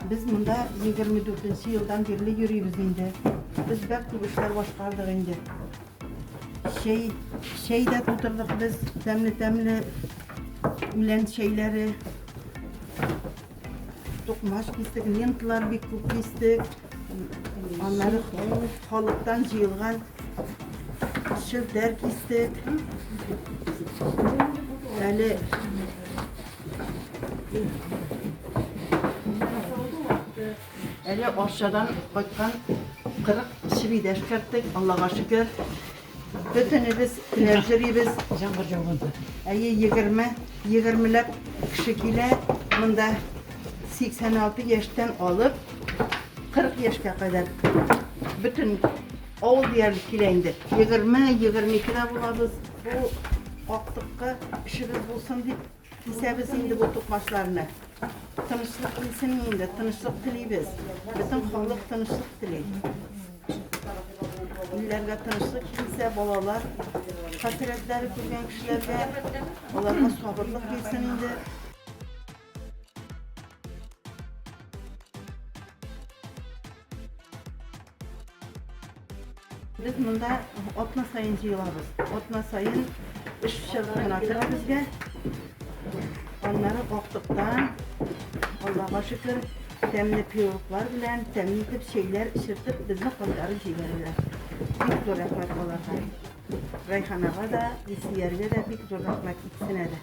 Без монда 24 елдан бирле йөрибез инде. Без бәк күп эшләр башкардык инде. Чәй, чәй дә тутырдык без, тәмле-тәмле үлән чәйләре. Тукмаш кистек, ленталар бик күп кистек. Аннары халыктан җыелган шелтәр кистек. Әле Әле Арчадан кайткан 40 шибидә эшкәрттек, Аллага шөкер. Бөтенебез келәр җөрибез. Җаңгыр җауганда. Әйе, егерме, егермеләп кеше килә. Монда 86 яшьтән алып 40 яшькә кадәр бөтен авыл диярлек килә инде. 20, 22 дә булабыз. Бу актыкка эшебез булсын дип Кисәбез инде бу тукмачларны. Тынычлык килсен инде, тынычлык телибез. Бөтен халык тынычлык тели. Илләргә тынычлык килсә, балалар хәсрәтләре күргән кешеләргә аларга сабырлык килсен инде. Без монда атна саен җыелабыз. Атна саен эш чыгымына тора безгә. Аннары актыкта, Аллага шөкер, тәмле пирожклар белән, тәмле итеп чәйләр эчертеп, безне кайтарып җибәрәләр. Бик зур рәхмәт аларга. Райханага да, Исияргә дә бик зур рәхмәт икесенә дә.